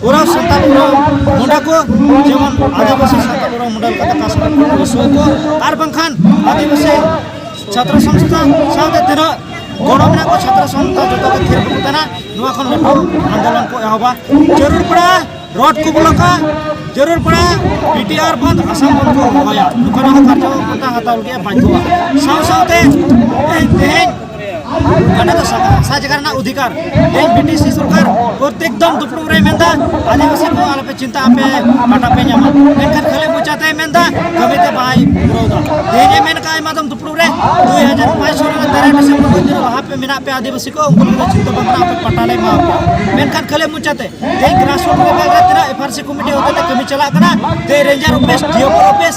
ᱯᱩᱨᱟᱹ ᱥᱟᱱᱛᱟᱲ ᱯᱩᱨᱟᱹ ᱢᱩᱸᱰᱟ ᱠᱚ ᱡᱮᱢᱚᱱ ᱟᱹᱫᱤᱵᱟᱹᱥᱤ ᱥᱟᱱᱛᱟᱲ ᱯᱩᱨᱟᱹ ᱢᱩᱸᱰᱟ ᱞᱮᱠᱟᱛᱮ ᱠᱟᱥ ᱠᱚ ᱯᱩᱥᱩᱭ ᱠᱚ ᱟᱨ ᱵᱟᱝᱠᱷᱟᱱ ᱟᱹᱫᱤᱵᱟᱹᱥᱤ ᱪᱷᱟᱛᱨᱚ ᱥᱚᱝᱥᱛᱷᱟ ᱥᱟᱶᱛᱮ ᱛᱤᱱᱟᱹᱜ ᱜᱚᱲᱚ ᱢᱮᱱᱟᱜ ᱠᱚ ᱪᱷᱟᱛᱨᱚ ᱥᱚᱝᱥᱛᱷᱟ ᱡᱚᱛᱚ ᱜᱮ ᱛᱷᱤᱨ ᱠᱚ ᱠᱟᱱᱟ ᱱᱚᱣᱟ ᱠᱷᱚᱱ ᱞᱟᱹᱴᱩ ᱟᱱᱫᱳᱞᱚᱱ ᱠᱚ ᱮᱦᱚᱵᱟ ᱡᱟᱹᱨᱩᱲ ᱯᱟᱲᱟ ᱨᱚᱰ ᱠᱚ ᱵᱚᱞᱚᱠᱟ ᱡᱟᱹᱨᱩᱲ ᱯᱟᱲᱟ ᱯᱤᱴᱤᱟᱨ ᱵᱚᱱᱫ ᱟᱥᱟᱢ ᱵᱚᱱ ᱠᱚ ᱦᱚᱦᱚᱭᱟ ᱱᱚᱝᱠᱟᱱᱟᱜ ᱠᱟᱨᱡᱚ ᱠᱚ ᱦᱟᱛᱟᱣ ᱞᱟᱹᱜᱤᱫ ᱵᱟᱫᱽᱫᱷᱚᱜᱼᱟ ᱥᱟᱶ ᱥᱟᱶᱛᱮ ᱛᱮᱦᱮᱧ ᱠᱟᱱᱟ ᱫᱚ ᱥᱟᱡᱽᱜᱟᱨ ᱨᱮᱱᱟᱜ ᱚᱫᱷᱤᱠᱟᱨ ᱛᱮ ᱵᱤᱴᱤᱥᱤ ᱥᱚᱨᱠᱟᱨ ᱯᱨᱚᱛᱮᱠ ᱫᱚᱢ ᱫᱩᱯᱲᱩᱵ ᱨᱮ ᱢᱮᱱᱫᱟ ᱟᱹᱫᱤᱵᱟᱹᱥᱤ ᱠᱚ ᱟᱞᱚᱯᱮ ᱪᱤᱱᱛᱟ ᱟᱯᱮ ᱠᱟᱴᱟ ᱯᱮ ᱧᱟᱢᱟ ᱢᱮᱱᱠᱷᱟᱱ ᱠᱷᱟᱹᱞᱤ ᱢᱚᱪᱟᱛᱮ ᱢᱮᱱᱫᱟ ᱠᱟᱹᱢᱤ ᱛᱮ ᱵᱟᱭ ᱯᱩᱨᱟᱹᱣ ᱫᱟ ᱛᱮᱦᱮᱧ ᱮ ᱢᱮᱱ ᱠᱟᱜ ᱟᱭᱢᱟ ᱫᱚᱢ ᱫᱩᱯᱲᱩᱵ ᱨᱮ ᱫᱩᱭ ᱦᱟᱡᱟᱨ ᱯᱟᱸᱪ ᱥᱚ ᱨᱮᱱᱟᱜ ᱛᱮᱨᱮ ᱰᱤᱥᱮᱢᱵᱚᱨ ᱠᱷᱚᱱ ᱫᱤᱱ ᱞᱟᱦᱟ ᱯᱮ ᱢᱮᱱᱟᱜ ᱯᱮ ᱟᱹᱫᱤᱵᱟᱹᱥᱤ ᱠᱚ ᱩᱱᱠᱩ ᱫᱚ ᱪᱤᱱᱛᱟ ᱵᱟᱝ ᱠᱟᱱᱟ ᱟᱯᱮ ᱯᱟᱴᱟ ᱞᱮ ᱮᱢᱟ ᱯᱮᱭᱟ ᱢᱮᱱᱠᱷᱟᱱ ᱠᱷᱟᱹᱞᱤ ᱢᱚᱪᱟᱛᱮ ᱛᱮᱦᱮᱧ ᱜᱨᱟᱥᱨᱩᱴ ᱞᱮᱵᱮᱞ ᱨᱮ ᱛᱤᱱᱟᱹᱜ ᱮᱯᱷᱟᱨᱥᱤ ᱠᱚᱢᱤᱴᱤ ᱦᱚᱛᱮᱛᱮ ᱠᱟᱹᱢᱤ ᱪᱟᱞᱟᱜ ᱠᱟᱱᱟ ᱛᱮ ᱨᱮᱧᱡᱟᱨ ᱚᱯᱷᱤᱥ ᱰᱤᱭᱚᱯᱚᱨ ᱚᱯᱷᱤᱥ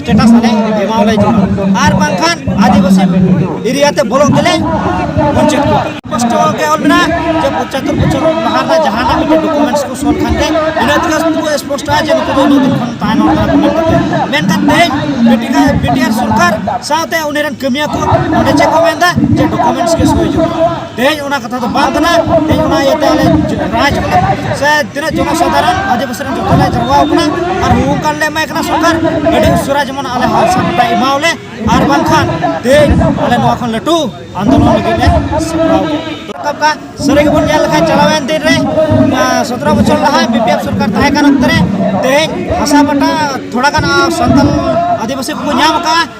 ᱥᱴᱮᱴᱟᱥ ᱟᱞᱮ ᱮᱢᱟᱣ ᱞᱮ ᱡᱚᱱᱟ ᱟᱨ ᱵᱟᱝᱠᱷᱟᱱ ᱟᱹᱫᱤᱵᱟᱹᱥᱤ ᱮᱨᱤᱭᱟ ᱛᱮ ᱵᱚᱞᱚᱜ ᱛᱮᱞᱮ ᱵᱚᱧᱪᱮᱛ ᱠᱚᱣᱟ ᱠᱚᱥᱴᱚ ᱜᱮ ᱚᱞ ᱢᱮᱱᱟᱜᱼᱟ ᱡᱮ ᱯᱚᱸᱪᱟᱛᱛᱚᱨ ᱵᱚᱪᱷᱚᱨ ᱞᱟᱦᱟ ᱨᱮᱱᱟᱜ ᱡᱟᱦᱟᱱᱟᱜ ᱢᱤᱫᱴᱮᱱ ᱰᱚᱠᱩᱢᱮᱱᱴᱥ ᱠᱚ ᱥᱚᱞ ᱠᱷᱟᱱ ᱜᱮ ᱤᱱᱟᱹ ᱛᱮᱜᱮ ᱩᱱᱠᱩ ᱠᱚ ᱥᱯᱚᱥᱴᱚᱜᱼᱟ ᱡᱮ ᱱᱩᱠᱩ ᱫᱚ ᱩᱱᱟᱹᱜ ᱫᱤᱱ ᱠᱷᱚᱱ ᱛᱟᱦᱮᱱ ᱦᱚᱲ ᱠᱟᱱᱟ ᱢᱮᱱ ᱠᱟᱛᱮ ᱢᱮᱱᱠᱷᱟᱱ ᱛᱮᱦᱮᱧ ᱵᱤᱴᱤᱠᱟ ᱵᱤᱴᱤᱟᱨ ᱥᱚᱨᱠᱟᱨ ᱥᱟᱶᱛᱮ ᱩᱱᱤ ᱨᱮᱱ ᱠᱟᱹᱢᱤᱭᱟᱹ ᱠᱚ ᱚᱸᱰᱮ ᱪᱮᱫ ᱠᱚ ᱢᱮᱱᱫᱟ ᱡᱮ ᱰᱚᱠᱩᱢᱮᱱᱴᱥ ᱜᱮ ᱥᱳᱭ ᱡᱩᱛ ᱛᱮᱦᱮᱧ ᱚᱱᱟ ᱠᱟᱛᱷᱟ ᱫᱚ ᱵᱟᱝ ᱠᱟᱱᱟ ᱛᱮᱦᱮᱧ ᱚᱱᱟ ᱤᱭᱟᱹᱛᱮ ᱟᱞᱮ ᱨᱟᱡᱽ ᱥᱮ ᱛᱤᱱᱟᱹᱜ ᱡᱚᱱᱚ ᱥᱟᱫᱷᱟᱨᱚᱱ ᱟᱹᱫᱤᱵᱟᱹᱥᱤ ᱨᱮᱱ ᱡᱚᱛᱚ ᱞᱮ ᱡᱟᱨᱣᱟ ᱟᱠᱟᱱᱟ ᱟᱨ ᱦᱩᱦᱩ ᱠᱟᱱ ᱞᱮ ᱮᱢᱟᱭ ᱠᱟᱱᱟ ᱥᱚᱨᱠᱟᱨ ᱟᱹᱰᱤ ᱩᱥᱟᱹᱨᱟ ᱡᱮᱢᱚᱱ ᱟᱞᱮ ᱦᱟᱥᱟ ᱯᱟᱴᱟ ᱮᱢᱟᱣᱞᱮ ᱟᱨ ᱵᱟᱝᱠᱷᱟᱱ ᱛᱮᱦᱮᱧ ᱟᱞᱮ ᱱᱚᱣᱟ ᱠᱷᱚᱱ ᱞᱟᱹᱴᱩ ᱟᱱᱫᱳᱞᱚᱱ ᱞᱟᱹᱜᱤᱫ ᱞᱮ ᱥᱟᱯᱲᱟᱣ ᱨᱟᱠᱟᱵ ᱠᱟᱜᱼᱟ ᱥᱟᱹᱨᱤ ᱜᱮᱵᱚᱱ ᱧᱮᱞ ᱞᱮᱠᱷᱟᱱ ᱪᱟᱞᱟᱣᱮᱱ ᱫᱤᱱ ᱨᱮ ᱥᱚᱛᱨᱚ ᱵᱚᱪᱷᱚᱨ ᱞᱟᱦᱟ ᱵᱤᱯᱤᱮᱯ ᱥᱚᱨᱠᱟᱨ ᱛᱟᱦᱮᱸ ᱠᱟᱱ ᱚᱠᱛᱮ ᱨᱮ ᱛᱮᱦᱮᱧ ᱦᱟᱥᱟ ᱯᱟᱴᱟ ᱛᱷᱚᱲᱟ ᱜᱟᱱ ᱥᱟᱱᱛᱟᱞ ᱟᱹᱫᱤᱵᱟᱹᱥᱤ ᱠᱚᱠᱚ ᱧᱟᱢ ᱠᱟᱜᱼᱟ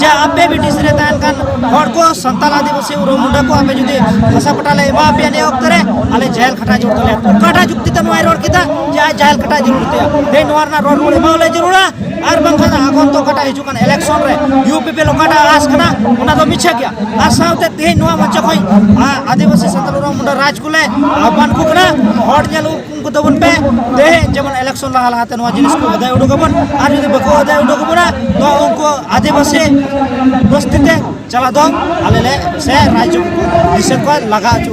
ᱡᱮ ᱟᱯᱮ ᱵᱨᱤᱴᱤᱥ ᱨᱮ ᱛᱟᱦᱮᱱ ᱠᱟᱱ ᱦᱚᱲ ᱠᱚ ᱥᱟᱱᱛᱟᱞ ᱟᱹᱫᱤᱵᱟᱹᱥᱤ ᱩᱨᱩᱢ ᱢᱩᱰᱟᱹ ᱠᱚ ᱟᱯᱮ ᱡᱩᱫᱤ ᱦᱟᱥᱟ ᱯᱟᱴᱟ ᱞᱮ ᱮᱢᱟ ᱯᱮᱭᱟ ᱱᱤᱭᱟᱹ ᱚᱠᱛᱚ ᱨᱮ ᱟᱞᱮ ᱡᱟᱦᱮᱨ ᱠᱷᱟᱴᱟ ᱡᱩᱲ ᱛᱟᱞᱮᱭᱟ ᱚᱠᱟᱴᱟᱜ ᱡᱩᱠᱛᱤ ᱛᱮ ᱱᱚᱣᱟᱭ ᱨᱚᱲ ᱠᱮᱫᱟ ᱡᱮ ᱟᱡ ᱡᱟᱦᱮᱨ ᱠᱷᱟᱴᱟ ᱡᱟᱹᱨᱩᱲ ᱛᱟᱭᱟ ᱛᱮᱦᱮᱧ ᱱᱚᱣᱟ ᱨᱮᱱᱟᱜ ᱨᱚᱲ ᱨᱩᱣᱟᱹᱲ ᱮᱢᱟᱣᱟᱞᱮ ᱡᱟᱹᱨᱩᱲᱟ ᱟᱨ ᱵᱟᱝᱠᱷᱟᱱ ᱟᱜᱚᱱ ᱛᱚ ᱚᱠᱟᱴᱟᱜ ᱦᱤᱡᱩᱜ ᱠᱟᱱ ᱤᱞᱮᱠᱥᱚᱱ ᱨᱮ ᱤᱭᱩ ᱯᱤ ᱯᱤ ᱚᱠᱟᱴᱟᱜ ᱟᱥ ᱠᱟᱱᱟ ᱚᱱᱟ ᱫᱚ ᱢᱤᱪᱷᱟᱹ ᱜᱮᱭᱟ ᱟᱨ ᱥᱟᱶᱛᱮ ᱛᱮᱦᱮᱧ ᱱᱚᱣᱟ ᱢᱚᱧᱪᱚ ᱠᱷᱚᱱ ᱟᱹᱫᱤᱵᱟᱹᱥᱤ ᱥᱟᱱᱛᱟᱞ ᱩᱨᱩᱢ ᱢᱩᱰᱟᱹ ᱨᱟᱡᱽ ᱠᱚᱞᱮ ᱟᱦᱵᱟᱱ ᱠᱚ ᱠᱟᱱᱟ ᱦᱚᱲ ᱧᱮᱞ ᱦᱩᱠᱩᱢ ᱠᱚ ᱛᱟᱵᱚᱱ ᱯᱮ ᱛᱮᱦᱮᱧ ᱡᱮᱢᱚᱱ ᱤᱞᱮᱠᱥᱚᱱ ᱞᱟᱦᱟ ᱞᱟᱦᱟᱛᱮ ᱱᱚᱣᱟ ᱡᱤᱱᱤᱥ ᱠᱚ ᱟᱫᱟᱭ ᱩᱰᱩᱠ ᱟᱵᱚᱱ ᱟᱨ ᱡᱩᱫᱤ ᱵᱟᱠᱚ ᱟᱫᱟᱭ ᱩᱰᱩᱠ ᱟᱵᱚᱱᱟ ᱛᱚ ᱩᱱᱠᱩ ᱟᱹᱫᱤᱵᱟᱹᱥᱤ ᱵᱚᱥᱛᱤ ᱛᱮ ᱪᱟᱞᱟᱜ ᱫᱚ ᱟᱞᱮ ᱞᱮ ᱥᱮ ᱨᱟᱡᱽ ᱫᱤᱥᱚᱢ ᱠᱚ ᱞᱟᱜᱟ ᱦᱚᱪᱚ